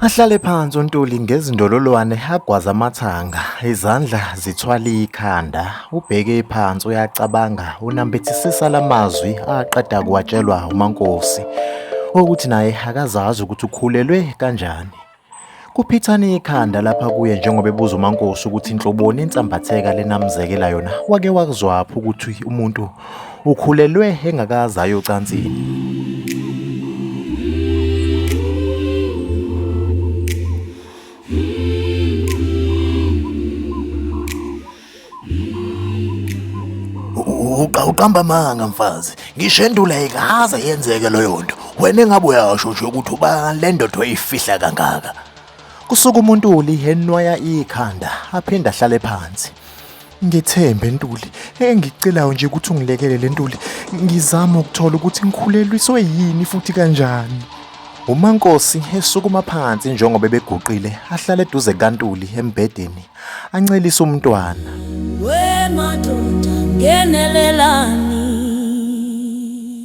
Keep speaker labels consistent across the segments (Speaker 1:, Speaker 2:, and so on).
Speaker 1: Ahlale phansi uNtuli ngezindololwane agwaza amathanga, izandla zithwala ikhanda. Ubheke phansi uyacabanga, unambithisisa lamazwi aqeda kuwatshelwa uMankosi ukuthi naye akazazi ukuthi ukhulelwe kanjani. Kuphithana ikhanda lapha kuye njengoba ebuza uMankosi ukuthi inhloboni insambatheka lenamzekela yona. Wake wakuzwaphi ukuthi umuntu Ukhulelwe engakaze aye ocansini.
Speaker 2: Uqa uqamba amanga mfazi. Ngisho endula ikaze yenzeke leyo nto. Wena engabe uyasho nje ukuthi ubani le ndoda oyifihla kangaka. Kusuka umuntu
Speaker 1: ulihenwaya ikhanda aphinde ahlale phansi. Ngethembe Ntuli, engikucelayo nje ukuthi ungilekelele Ntuli, ngizama ukuthola ukuthi ngikhulelwiswe yini futhi kanjani. UMankosi esukuma phansi njengoba beguqile ahlale eduze kaNtuli embhedeni ancelisa umntwana. We
Speaker 3: madoda ngenelelani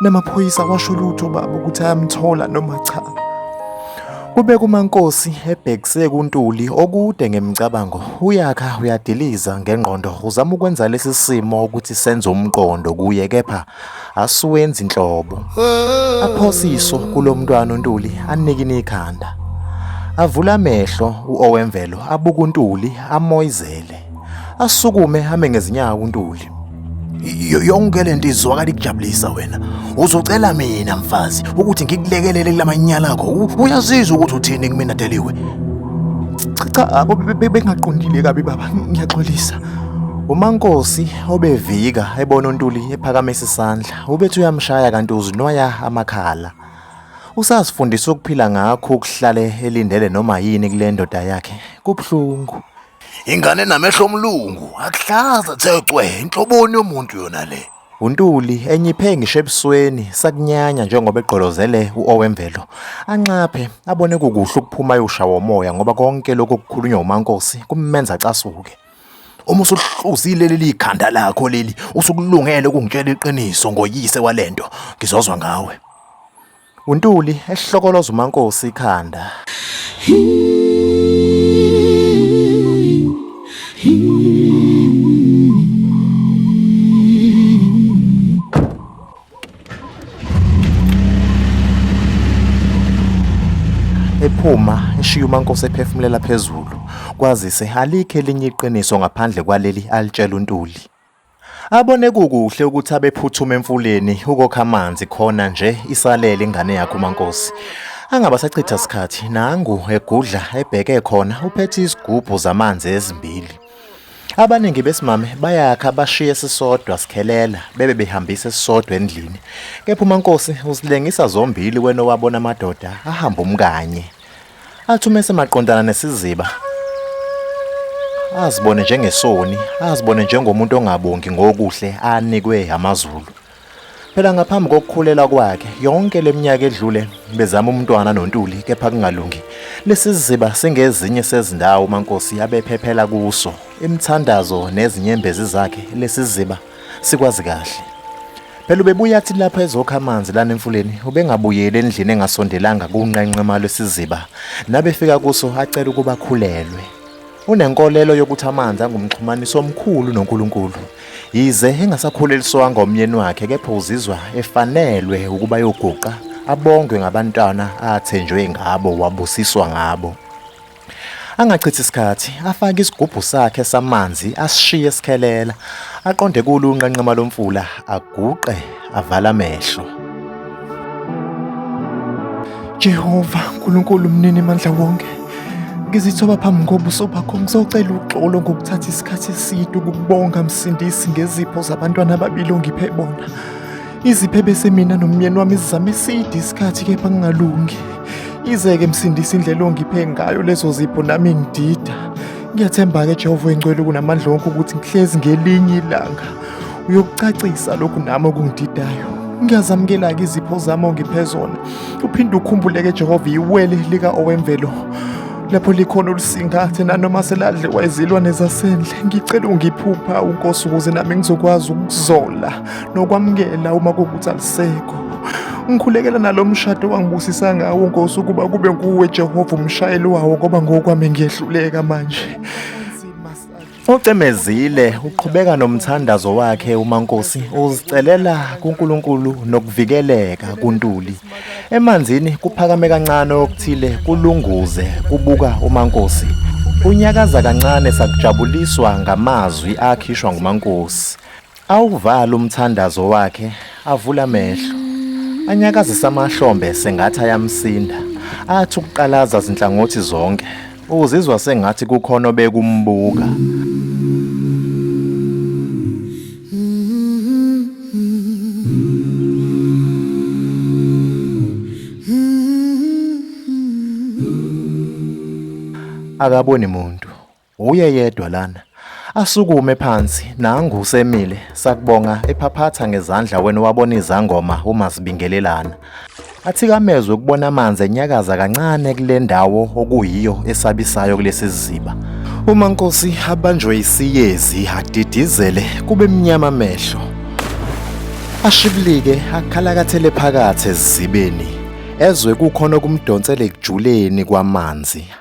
Speaker 1: namaphoyisa washo lutho baba ukuthi ayamthola noma cha Kubeka uMankosi ebhekise kuNtuli okude ngemicabango uyakha uyadiliza ngengqondo uzama ukwenza lesi simo ukuthi senze umqondo kuye kepha asiwenzi inhlobo aphosiso kulomntwana uNtuli anikini ikhanda avula amehlo uOwemvelo abuka uNtuli amoyizele asukume hame ngezinyawo uNtuli yonke
Speaker 2: lento izwakala ikujabulisa wena uzocela mina mfazi ukuthi ngikulekelele kulamanyala akho uyazizwa ukuthi uthini kumina deliwe
Speaker 1: cha abo bengaqondile kabi baba ngiyaxolisa umankosi obevika ebona untuli ephakamisa isandla ubethi uyamshaya kanti uzinwaya amakhala usazifundisa ukuphila ngakho ukuhlale elindele noma yini kule ndoda yakhe kubuhlungu ingane
Speaker 2: namehlo omlungu akuhlaza thecwe inhloboni yomuntu yona le uNtuli
Speaker 1: enyiphe ngisho ebusweni sakunyanya njengoba egqolozele uOwemvelo anxaphe abone kukuhle ukuphuma ayoshawa umoya ngoba konke lokho kukhulunywa uMankosi kumenza casuke uma
Speaker 2: usuhluzile leli ikhanda lakho leli usukulungele ukungitshela iqiniso ngoyise walento ngizozwa ngawe
Speaker 1: UNtuli ehlokoloza uMankosi ikhanda. Ephuma eshiya uMankosi ephefumulela phezulu kwazise alikho elinye iqiniso ngaphandle kwaleli alitshela uNtuli. Abone kukuhle ukuthi abephuthume emfuleni ukokha amanzi khona nje isalele ingane yakhe uMankosi. Angabasachitha sikhathi nangu egudla ebheke khona uphethe izigubhu zamanzi ezimbili. Abaningi besimame bayakha bashiye sisodwa sikhelela bebe behambisa sisodwa endlini. Kepha uMankosi usilengisa zombili wena owabona amadoda ahamba umkanye. Athi uma esemaqondana nesiziba azibone njengesoni, azibone njengomuntu ongabongi ngokuhle anikwe amaZulu. Phela ngaphambi kokukhulela kwakhe yonke leminyaka edlule bezama umntwana noNtuli kepha kungalungi. Lesiziba singezinye sezindawo uMankosi abephephela kuso. Imthandazo nezinyembezi zakhe lesiziba Sikwazi kahle. Phela ubebuya athi lapha ezokha amanzi lana emfuleni ubengabuyeli endlini engasondelanga kunqenqema lwesiziba nabefika kuso acela ukuba khulelwe. Unenkolelo yokuthi amanzi angumxhumaniso omkhulu noNkulunkulu. Yize engasakhuleliswanga omyeni wakhe kepha uzizwa efanelwe ukuba yoguqa abongwe ngabantwana athenjwe ngabo wabusiswa ngabo. Angachithi isikhathi, afake isigubhu sakhe samanzi, asishiye sikhelela, aqonde kulo unqanqema lomfula, aguqe, avala amehlo. Jehova, uNkulunkulu mnini mandla wonke, ngizithoba phambi kobuso bakho ngizocela uxolo ngokuthatha isikhathi eside ukubonga msindisi ngezipho zabantwana ababili ongiphe bona. Iziphebe semina nomyeni wami zizame side isikhathi kepha ngingalungi. Izeke msindisa indlela ongiphe ngayo lezo zipho nami ngidida. Ngiyathemba-ke Jehova oyingcwele kunamandla wonke ukuthi ngihlezi ngelinye ilanga. Uyokucacisa lokhu nami okungididayo. Ngiyazamukela-ke izipho zami ongiphe zona. Uphinde ukhumbuleke Jehova iwele lika owemvelo. Lapho likhona olusingathe nanoma seladliwa izilwane zasendle. Ngicela ungiphupha uNkosi ukuze nami ngizokwazi ukuzola nokwamukela uma kuwukuthi alisekho ngikhulekela nalo mshado wangibusisa ngawo nkosi ukuba kube nguwe jehova umshayeli wawo ngoba ngokwami ngiyehluleka manje Ucemezile uqhubeka nomthandazo wakhe uMankosi uzicelela kuNkulunkulu nokuvikeleka kuNtuli. Emanzini kuphakame kancane okuthile kulunguze kubuka uMankosi. Unyakaza kancane sakujabuliswa ngamazwi akhishwa nguMankosi. Awuvala umthandazo wakhe, avula amehlo. Anyakazisa amahlombe sengathi ayamsinda. Athi ukuqalaza zinhlangothi zonke. Uzizwa sengathi kukhona obekumbuka. Akaboni muntu. Wuye yedwa lana. Asukume phansi nangu usemile sakubonga ephaphatha ngezandla wena wabona izangoma uma sibingelelana. Athikamezwe ukubona amanzi enyakaza kancane kule ndawo okuyiyo esabisayo kulesi siziba. Uma Nkosi abanjwe isiyezi adidizele kube mnyama amehlo. Ashibilike akhalakathele phakathi ezibeni ezwe kukhona okumdonsele ekujuleni kwamanzi